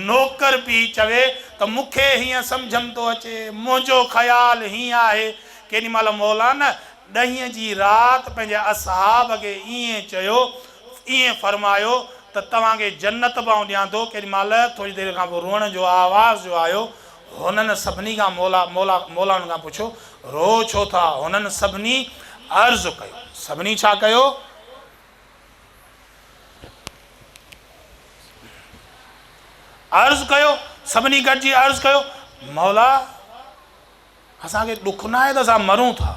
نوڪر پي چوي ته مون کي هيئن سمجهه م ٿو اچي، منهنجو خيال هيئن آهي، ڪيڏي مهل مولانا ڏهين جي رات پنهنجي اصحاب کي ائين چيو، ائين فرمايو ته توهان کي جنت به آئون ڏيان ٿو، ڪيڏي مهل ٿوري دير کان پوء روئڻ جو آواز جو آيو، هنن سڀني کان مولا، مولا، مولائن کان پڇيو، روء ڇو ٿا؟ هنن سڀني عرض ڪيو. سڀني ڇا ڪيو؟ عرض ڪيو. سڀني گڏجي عرض ڪيو، مولا! اسان کي ڏک ناهي ته اسان مرون ٿا.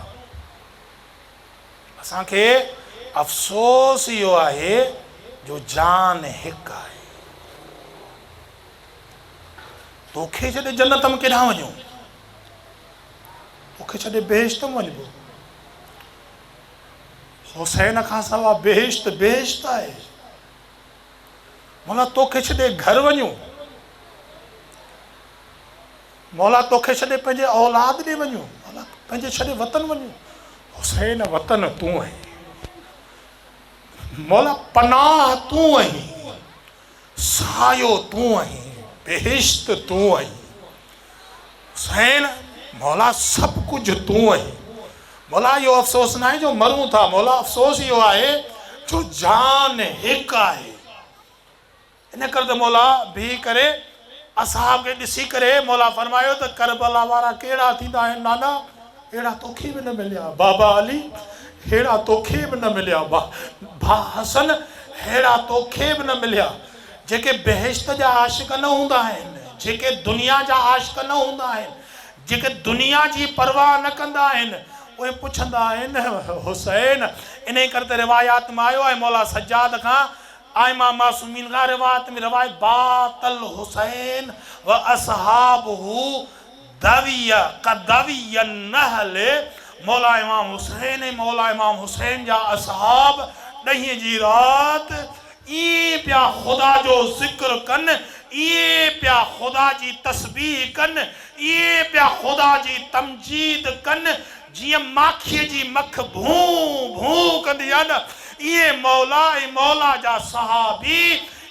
اسان کي افسوس اهو آهي جو جان هڪ آهي. توکي ڇڏي جنت م ڪيڏانهن وڃون؟ توکي ڇڏي بهشت م وڃبو؟ حسين کان سوا بهشت بهشت آهي. مولا توکي ڇڏي گهر وڃون؟ مولا توکي ڇڏي پنهنجي اولاد ڏي وڃون؟ مولا پنهنجي ڇڏي وطن وڃون؟ حسين وطن تون آهين. مولا پناهه تون آهين. سايو تون آهين، بهشت تون آهين، حسين مولا سڀ ڪجهه تون آهين، مولا اهو افسوس ناهي جو مرون ٿا، مولا افسوس اهو آهي جو جان هڪ آهي، ان ڪري ته مولا بيهي ڪري. اصحاب کي ڏسي ڪري مولا فرمايو ته ڪربلا وارا ڪهڙا ٿيندا آهن نانا ههڙا توکي به نه مليا بابا علي ههڙا توکي به نه مليا ڀاء حسن ههڙا توکي به نه مليا جيڪي بهشت جا عاشق نه هوندا آهن جيڪي دنيا جا عاشق نه هوندا آهن جيڪي دنيا جي پرواهه نه ڪندا آهن اهي پڇندا آهن حسين انهي ڪري ته روايات مان آيو آهي مولا سجاد کان ائمه معصومين کان روايت ۾ روايت بعث الحسين و اصحابه ذويه قدوي النهل مولا امام حسين ۽ مولا امام حسين جا اصحاب ڏهين جي رات ائين پيا خدا جو ذڪر ڪن ائين پيا خدا جي تسبيح ڪن ائين پيا خدا جي تمجيد ڪن جيئن ماکيء جي مک ڀون ڀون ڪندي آ نه ايئن مولا ۽ مولا جا صحابي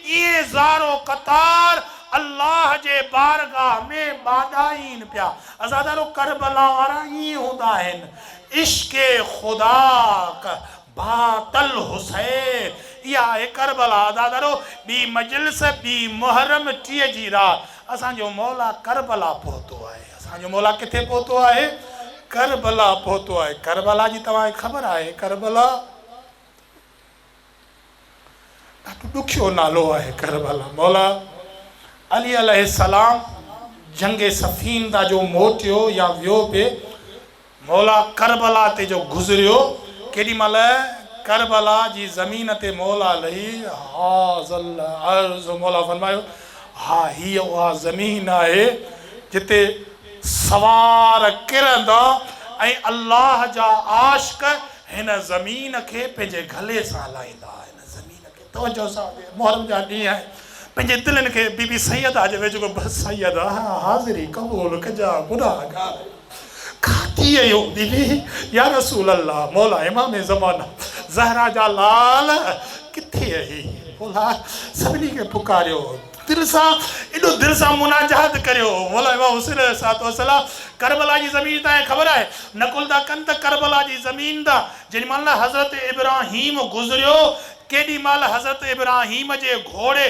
ايئن زارو قطار الله جي بارگاھ ۾ ٻاڏائين پيا. عزادارو ڪربلا وارا ايئن هوندا آهن عشق خدا ڪ. باقي الحسين اها آهي ڪربلا عزادارو ٻي مجلس ٻي محرم ٽيهه جي رات اسان جو مولا ڪربلا پهتو آهي اسان جو مولا ڪٿي پهتو آهي ڪربلا پهتو آهي ڪربلا جي توهان کي خبر آهي ڪربلا ڏاڍو ڏکيو نالو آهي ڪربلا. مولا علي عليه السلام جنگ صفين تان جو موٽيو يا ويو به مولا ڪربلا تي جو گذريو ڪيڏي مهل ڪربلا جي زمين تي مولا علي هاذ الارض مولا فرمايو ها هيء اها زمين آهي جتي سوار ڪرندا ۽ الله جا عاشق هن زمين کي پنهنجي گلي سان هلائيندا هن زمين کي توجه سان اڄ محرم جا ڏينهن آهن پنهنجي دلين کي بي بي سيده جي ويجهو بس سيده حاضري قبول ڪجا گناهگار کاتي اهو بي بي يا رسول الله مولا امام زمانه زهرا جا لال ڪٿي اهي مولا سڀني کي پڪاريو تن سان ايڏو دل سان مناجات ڪريو هو. مولوي امام حسين عليه الصلوة والسلام ڪربلا جي زمين تان هي خبر آهي نقل ٿا ڪن ته ڪربلا جي زمين تان جيڏي مهل حضرت ابراهيم گذريو تيڏي مهل حضرت ابراهيم جي گهوڙي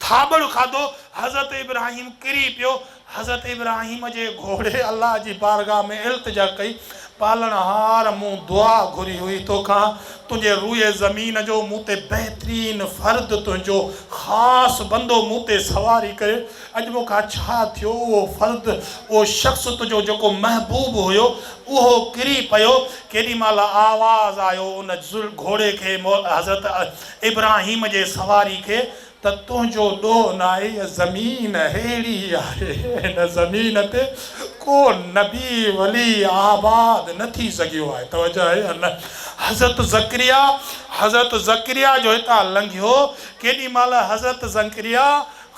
ٿاٻڙ کاڌو حضرت ابراهيم ڪري پيو حضرت ابراهيم جي گهوڙي الله جي بارگاهه ۾ التجا ڪئي، پالڻهار! مون دعا گهري هئي توکان، تنهنجي روئي زمين جو مون تي بهترين فرد، تنهنجو خاص بندو مون تي سواري ڪري. اڄ مون کان ڇا ٿيو؟ اهو فرد، اهو شخص تنهنجو جيڪو محبوب هيو، اهو ڪري پيو. ڪيڏي مهل آواز آيو ان گهوڙي کي، حضرت ابراهيم جي سواري کي، ته تنهنجو ڏوهه نه آهي هيء زمين ههڙي ئي آهي هن زمين تي ڪو نبي ولي آباد نه ٿي سگهيو آهي توجه آهي يا نه حضرت زڪريا حضرت زڪريا جو هتان لنگهيو ڪيڏي مهل حضرت زڪريا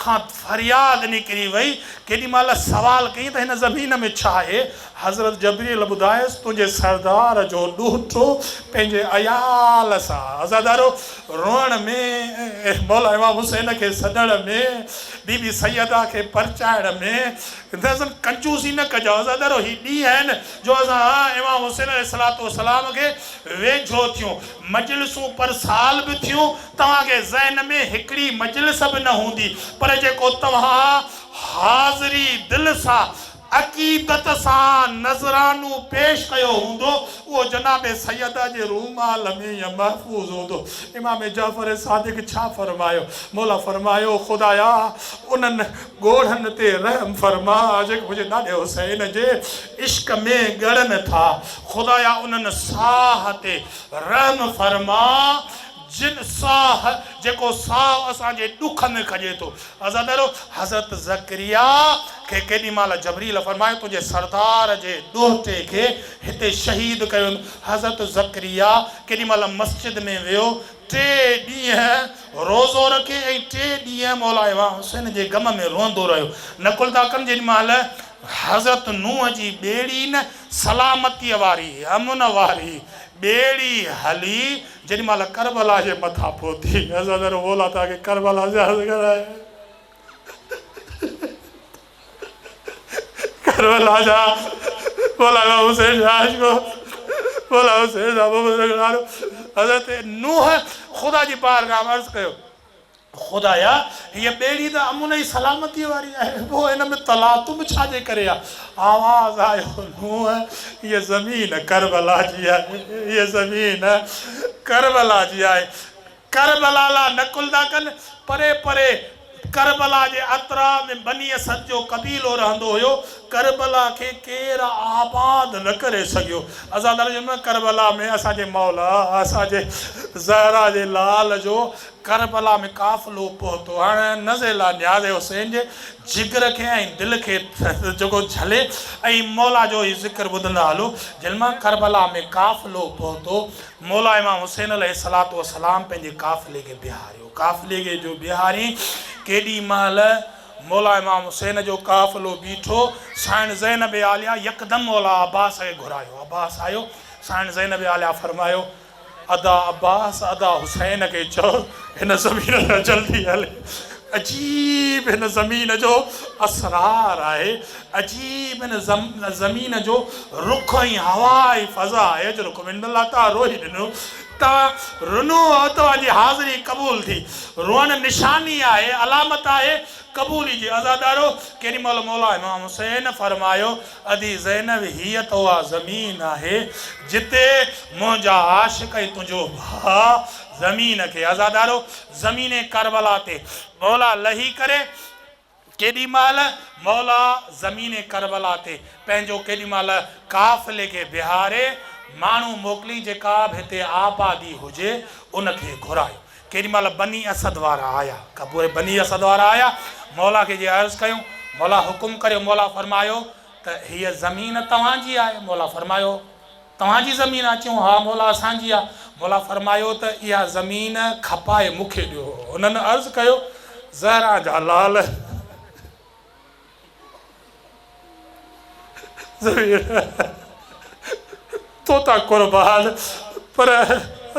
کان فرياد نڪري وئي ڪيڏي مهل سوال ڪيائين ته هن زمين ۾ ڇا آهي حضرت جبريل ٻڌايس، تنهنجي سردار جو ڏوهٽو پنهنجي عيال سان عزادارو روئڻ ۾، مولا امام حسين کي سڏڻ ۾، بي بي سيده کي پرچائڻ ۾، نظم ڪنجوسي نه ڪجان عزادارو هي ڏينهن آهن جو اسان امام حسين عليه الصلوة والسلام کي ويجهو ٿيون، مجلسون پر سال به ٿيون، توهان کي ذهن ۾ هڪڙي مجلس به نه هوندي، پر جيڪو توهان حاضري دل سان عقيدت سان نذرانو پيش ڪيو هوندو، اهو جناب سيده جي رومال ۾ ئي محفوظ هوندو. امام جعفر صادق ڇا فرمايو؟ مولا فرمايو، خدايا! انهن ڳوڙهن تي رحم فرما، جيڪي منهنجي ڏاڏي حسين جي عشق ۾ ڳڙن ٿا. خدايا! انهن ساهه تي رحم فرما، جن ساھ جيڪو ساھ اسان جي ڏک ۾ کڄي ٿو. عرض ڪريو حضرت زڪريا کي ڪيڏي مھل جبريل فرمايو تنھنجي سردار جي ڏوھٽي کي ھتي شھيد ڪيو ويندو. حضرت زڪريا ڪيڏي مھل مسجد ۾ ويو ٽي ڏينھن روزو رکي ۽ ٽي ڏينھن مولا امام حسين جي غم ۾ روئندو رھيو. نقل ٿا ڪن جيڏي مھل حضرت نوح جي ٻيڙي نه سلامتيء واري، امن واري، ٻيڙي ھلي جيڏي مهل ڪربلا جي مٿان پهتي حضرت عرو مولا تان کي ڪربلا زيارت ڪرائي ڪربلا جا مولا امام حسين جا عاشق مولا حسين جا محبت رکڻ وارو حضرت نوح خدا جي بارگاهه ۾ عرض ڪيو خدايا! هيء ٻيڙي ته امن ۽ سلامتيء واري آهي، پوء ان ۾ تلاطم ڇا جي ڪري آهي؟ آواز آيو، نوح! هيء زمين ڪربلا جي آهي، هيء زمين ڪربلا جي آهي. ڪربلا لا نقل ٿا ڪن. پري پري ڪربلا جي اطراء ۾ بني اسد جو قبيلو رهندو هيو. ڪربلا کي ڪير آباد نه ڪري سگهيو. عزا ترجمه، ڪربلا ۾ اسان جي مولا، اسان جي زهرا جي لال جو ڪربلا ۾ قافلو پهتو. هاڻ نزيلا نياز حسين جي جگر کي ۽ دل کي جهڳو جهلي ۽ مولا جو هي ذڪر ٻڌندا هلو، جن مان ڪربلا ۾ قافلو پهتو، مولا امام حسين عليه الصلوة والسلام پنهنجي قافلي کي بيهاريو. قافلي کي جو بيهارين، ڪيڏي مهل مولا امام حسين جو قافلو بيٺو، سائڻ زينب عاليه يڪدم مولا عباس کي گهرايو. عباس آيو، سائڻ زينب عاليه فرمايو. ادا عباس ادا حسين کي چئو هن زمين تان جلدي هلي عجيب هن زمين جو اسرار آهي عجيب هن زمين جو رخ ۽ هوا ۽ فضا آهي جو رخ من الله تان روئي ڏنو تان رنو ۽ توهان جي حاضري قبول ٿي روئڻ نشاني آهي علامت آهي قبولي جي عزادارو ڪيڏي مهل مولا امام حسين فرمايو ادي زينب هيء ته اها زمين آهي جتي منهنجا عاشق ۽ تنهنجو ڀاء زمين کي عزادارو زمين ڪربلا تي مولا لهي ڪري ڪيڏي مهل مولا زمين ڪربلا تي پنهنجو ڪيڏي مهل قافلي کي بيهاري ماڻهو موڪلي جيڪا به هتي آبادي هجي ان کي گهرائي ڪيڏي مهل بني اسد وارا آيا، کان پوء بني اسد وارا آيا، مولا کي جي عرض ڪيون، مولا حڪم ڪريو، مولا فرمايو ته هيء زمين توهان جي آهي، مولا فرمايو، توهان جي زمين آهي، چيون، ها مولا اسان جي آهي، مولا فرمايو ته اها زمين کپائي مون کي ڏيو، انهن عرض ڪيو، زهران جا لعل! ضمير توتان قربان پر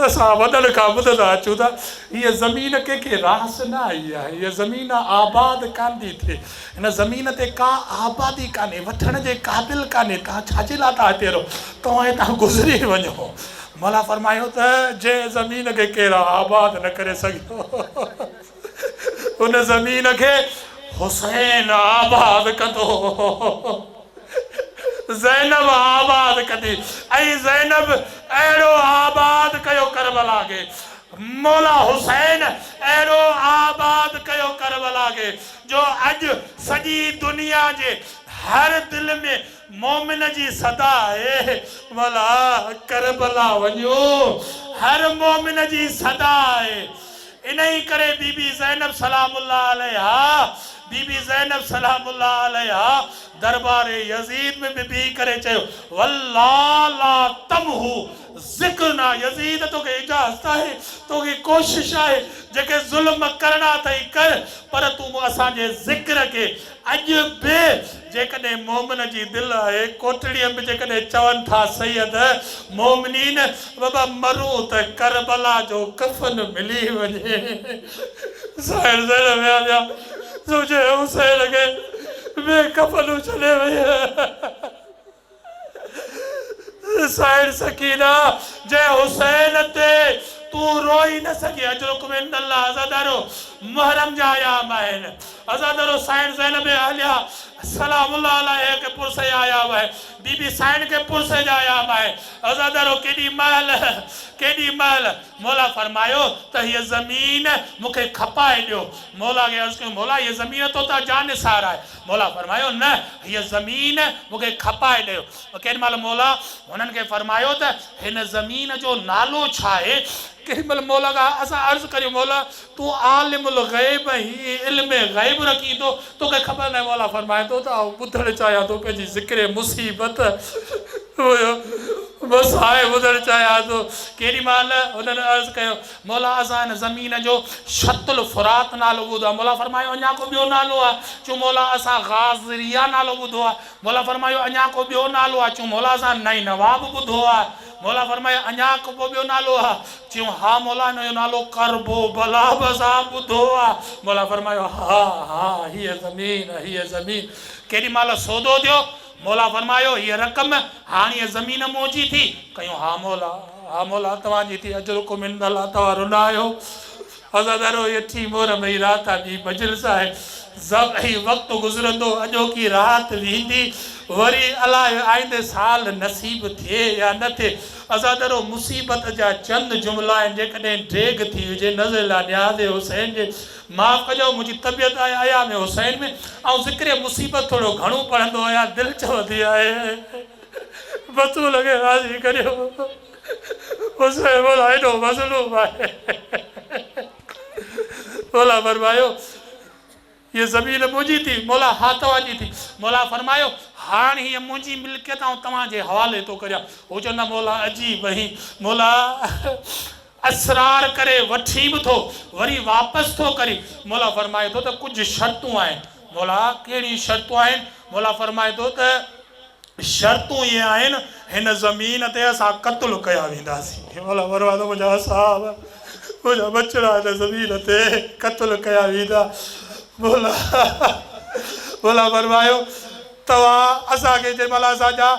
اسان وڏن کان ٻڌندا اچون ٿا هيء زمين ڪنهن کي راس نه آئي آهي هيء زمين آباد ڪانه ٿي ٿئي هن زمين تي ڪا آبادي ڪانهي وٺڻ جي قابل ڪانهي توهان ڇا جي لاء ٿا هتي رهو توهان هتان گذري وڃو مولا فرمايو ته جنهن زمين کي ڪير آباد نه ڪري سگهيو ان زمين کي حسين آباد ڪندو زينب آباد ڪندي ۽ زينب اهڙو آباد ڪيو ڪربلا کي مولا حسين اهڙو آباد ڪيو ڪربلا کي جو اڄ سڄي دنيا جي هر دل ۾ مومن جي صدا آهي مولا ڪربلا وڃو هر مومن جي صدا آهي انهيء ڪري بي بي زينب سلام الله عليها بي بي زينب سلام الله عليها دربار يزيد ۾ به بيهي ڪري چيو، والله لا تمحو ذڪرنا يزيد توکي اجازت آهي، توکي ڪوشش آهي، جيڪي ظلم ڪرڻا اٿئي ڪر، پر تون اسان جي ذڪر کي اڄ به جيڪڏهن مومن جي دل آهي، ڪوٽڙيء ۾ جيڪڏهن چون ٿا سيد مومنين بابا مرون ته ڪربلا جو ڪفن ملي وڃي. سائڻ زينب ويا ويا زوجي حسين کي بي ڪفن ڇڏي ويئي. سائڻ سڪينه جي حسين تي تون روئي نه سگهين اجرڪم عند الله عزادارو محرم جا ايام آهن عزادارو سائڻ زينب اهليه سلام الله عليه کي پرسي جا ايام آهن بي بي سائڻ کي پرسي جا ايام آهن عزادارو ڪيڏي مهل ڪيڏي مهل مولا فرمايو ته هيء زمين مون کي کپائي ڏيو مولا کي عرض ڪيون مولا هيء زمين تو تان جانثار آهي مولا فرمايو، نه، هيء زمين مون کي کپائي ڏيو. ڪيڏي مهل مولا هنن کي فرمايو ته هن زمين جو نالو ڇا آهي؟ ڪيڏي مهل مولا کان اسان عرض ڪريون، مولا! تون عالم الغيب آهين، علم غيب رکين ٿو، تو کي خبر ناهي. مولا فرمائي ٿو ته آئون ٻڌڻ چاهيان ٿو پنهنجي ذڪر مصيبت. بس آء ٻڌڻ چاهيان ٿو. ڪيڏي مهل هنن عرض ڪيو، مولا ازان هن زمين جو شط الفرات نالو ٻڌو آهي. مولا فرمايو اڃا ڪو ٻيو نالو آهي؟ چون مولا اسان غاضريا نالو ٻڌو آهي. مولا فرمايو اڃا ڪو ٻيو نالو آهي؟ چون مولا اسان نينوا به ٻڌو آهي. مولا فرمايو اڃا ڪو ٻيو نالو آهي؟ چيون ها مولا هن جو نالو ڪرب و بلا به اسان ٻڌو آهي. مولا فرمايو ها ها هيء زمين هيء زمين ڪيڏي مهل سودو ٿيو. مولا فرمايو، هيء رقم هاڻيء زمين مون جي ٿي. ڪيون، ها مولا، ها مولا، توهان جي ٿي، اجرڪم عند الله توهان رنا آهيو. عزادار روئي اٿي مور مئي رات آ ٻي مجلس آهي. ضب هي وقت گذرندو، اڄوڪي رات ويندي، وري الاهي آئيندي سال نصيب ٿئي يا نه ٿئي. عزادارو مصيبت جا چند جملا آهن، جيڪڏهن ڊيگهه ٿي هجي، نذر لا نياز حسين جي معاف ڪجو منهنجي طبيعت آهي ايام حسين ۾ آئون ذڪر مصيبت ٿورو گهڻو پڙهندو آهيان دل چوندي آهي بتول کي راضي ڪريو حسين مولا ايڏو مظلوم آهي مولا فرمايو هيء زمين منهنجي ٿي مولا ها توهان جي ٿي مولا فرمايو هاڻ هيء منهنجي ملڪيت آئون توهان جي حوالي ٿو ڪريان هو چوندا مولا عجيب اهين مولا اصرار ڪري وٺي به ٿو وري واپس ٿو ڪري، مولا فرمائي ٿو ته ڪجهه شرطون آهن، مولا ڪهڙيون شرطون آهن، مولا فرمائي ٿو ته شرطون اهي آهن هن زمين تي اسان قتل ڪيا وينداسين، مولا فرمائي ٿو منهنجا اصحاب منهنجا ٻچڙا هن زمين تي قتل ڪيا ويندا، مولا مولا فرمايو توهان اسان کي جنهن مهل اسان جا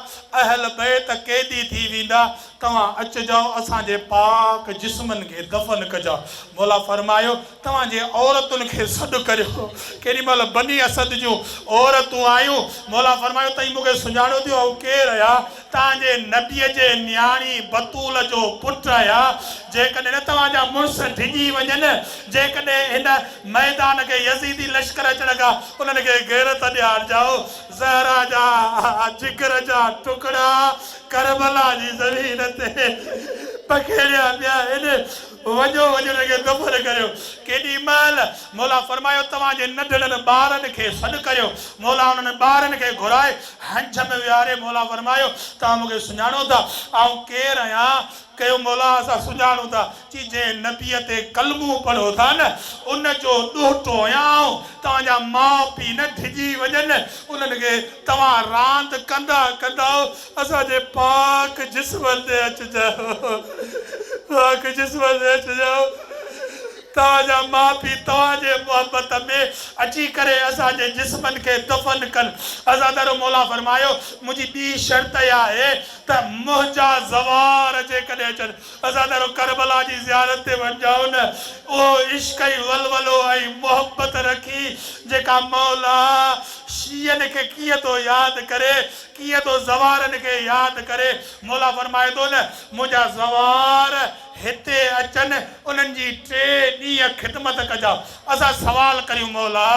اهل بيت قيدي ٿي ويندا توهان اچجاء اسان جي پاڪ جسمن کي دفن ڪجاء. مولا فرمايو، توهان جي عورتن کي سڏ ڪريو. ڪيڏي مهل بني اسد جون عورتون آيون. مولا فرمايو، تئين مون کي سڃاڻيو ٿيون آئون ڪير آهيان؟ توهان جي نبي جي نياڻي بتول جو پٽ آهيان. جيڪڏهن توهان جا مڙس ڊڄي وڃن، جيڪڏهن هن ميدان کي يزيدي لشڪر اچڻ کان انهن کي غيرت ڏيارجاء. زهرا جا جگر جا ٽڪڙا! ڪربلا جي زمين تي پکيڙيا پيا آهن، وڃو وڃي انهن کي دفن ڪريو. ڪيڏي مهل؟ مولا فرمايو، توهان جي ننڍڙن ٻارن کي سڏ ڪريو. مولا انهن ٻارن کي گهرائي هنج ۾ ويهاري مولا فرمايو، توهان مون کي سڃاڻو ٿا؟ آئون ڪير آهيان؟ ڪيو، مولا اسان سڃاڻون ٿا، چي جنهن نبيء تي ڪلمو پڙهو ٿا نه، ان جو ڏوهٽو آهيان آئون، توهان جا ماء پيء نه ڊڄي وڃن، انهن کي توهان راند ڪندا ڪندا اسان جي پاڪ جسم تي اچجاء، پاڪ جسم تي اچجاء، توهان جا ماء پيء توهان جي محبت ۾ اچي ڪري اسان جي جسمن کي دفن ڪن. حضرت ادر موليٰ فرمايو، منهنجي ٻي شرط اها آهي ته منهنجا زوار جيڪڏهن اچن، عزادارو ڪربلا جي زيارت تي وڃجائو نه اهو عشق ۽ ولولو ۽ محبت رکي جيڪا مولا شيعن کي ڪيئن ٿو ياد ڪري ڪيئن ٿو زوارن کي ياد ڪري مولا فرمائي ٿو نه منهنجا زوار هتي اچن انهن جي ٽي ڏينهن خدمت ڪجان اسان سوال ڪريون مولا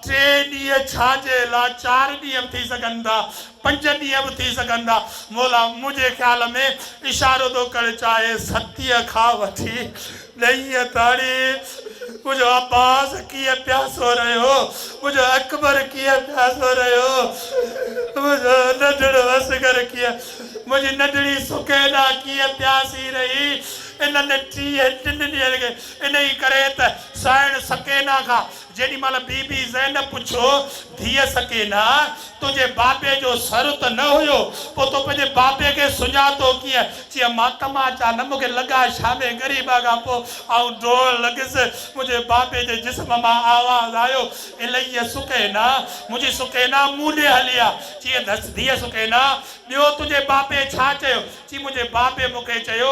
ٽي ڏينهن ڇا جي لاء چار ڏينهن به ٿي سگهن ٿا پنج ڏينهن به ٿي سگهن ٿا. مولا منهنجي خيال ۾ اشارو ٿو ڪري چاهي ستيء کان وٺي ڏهينء تاڻي منهنجو عباس ڪيئن پياسو رهيو، منهنجو اڪبر ڪيئن پياسو رهيو، منهنجو ننڍڙو اصغر ڪيئن، منهنجي ننڍڙي سڪينا ڪيئن پياسي رهي، انهن ٽيهن ٽن ڏينهن کي. انهيء ڪري ته سائڻ سڪينا کان جيڏي مھل بي بي زينب پڇيو، ڌيء سڪينه! تنھنجي بابي جو سر ته نه ھيو، پوء تو پنھنجي بابي کي سڃاتو ڪيئن؟ چيائين، مان تماچا نه، مون کي لڳا شامي غريبا کان پوء آئون ڊوڙڻ لڳس، منھنجي بابي جي جسم مان آواز آيو، اليّ سڪينه! منھنجي سڪينه مون ڏي ھلي آ. چيس، ڌيء سڪينه! ٻيو تنھنجي بابي ڇا چيو؟ چيائين، منھنجي بابي مون کي چيو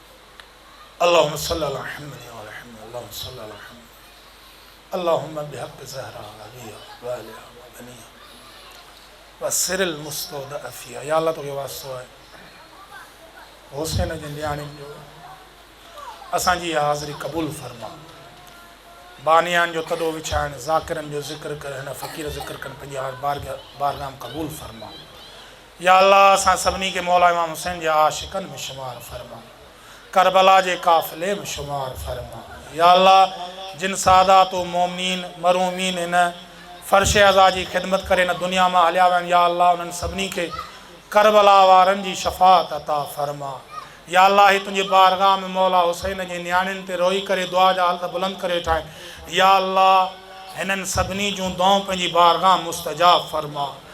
اللهم صل علي حمد يا علي حمد اللهم صل علي حمد اللهم بحق زهرا وابيها وآلها وبنيها وسر المستودع فيها يا الله توکي واسطو آهي حسين جي نياڻين جو اسان جي اها حاضري قبول فرما بانيان جو تڏو وڇائڻ ذاڪرن جو ذڪر ڪر هن فقير ذڪر ڪن پنهنجي هار بارگاهم قبول فرما يا الله اسان سڀني کي مولا امام حسين جي عاشقن ۾ شمار فرما ڪربلا جي قافلي ۾ شمار فرما يا الله جن سادات و مومنين مرحومين هن فرش عزا جي خدمت ڪري هن دنيا مان هليا ويا آهن يا الله انهن سڀني کي ڪربلا وارن جي شفاعت عطا فرما يا الله هي تنهنجي بارگاھ ۾ مولا حسين جي نياڻين تي روئي ڪري دعا جا هلت بلند ڪري ويٺا آهن يا الله هنن سڀني جون دعائون پنهنجي بارگاھ مستجاب فرما.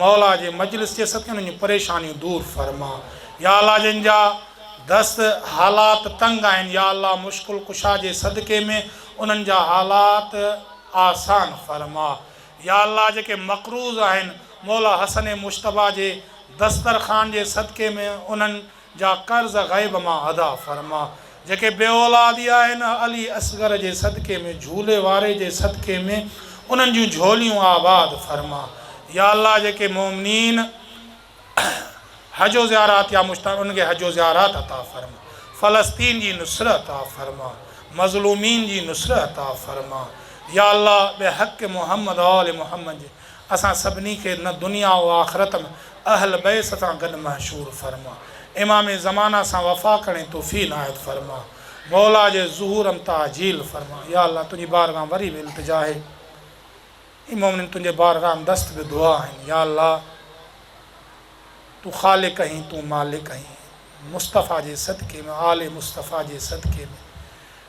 مولا جي مجلس جي سٿ انهن جون پريشانيون دور فرما يا الله جن جا دست حالات تنگ آهن يا الله مشڪل ڪشا جي صدقي ۾ انهن جا حالات آسان فرما يا الله جيڪي مقروض آهن مولا حسن مجتبيٰ جي دسترخوان جي صدقي ۾ انهن جا قرض غيب مان ادا فرما. جيڪي بي اولادي آهن علي اصغر جي صدقي ۾ جهولي واري جي صدقي ۾ انهن جون جهوليون آباد فرما. يا الله جيڪي مومنين حج و زيارات يا مشتاق انهن کي حج و زيارات عطا فرما. فلسطين جي نصره عطا فرما. مظلومين جي نصره عطا فرما. يا الله بحق محمد وآل محمد جي اسان سڀني کي نه دنيا و آخرت م اهل بيس سان گڏ محشور فرما امام زمانه سان وفا ڪرڻي توفيق عنايت فرما مولا جي ظهور م تعجيل فرما يا الله تنهنجي بارگاهه م وري به التجا آهي اي مؤمنين تنهنجي بارگاهه م دست به دعا آهن يا الله تون خالق آهين تون مالڪ آهين. مصطفيٰ جي صدقي ۾ آل مصطفيٰ جي صدقي ۾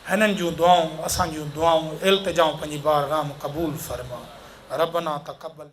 هنن جون دعائون اسان جون دعائون التجائون پنهنجي بارگاھ م قبول فرما ربنا تقبل.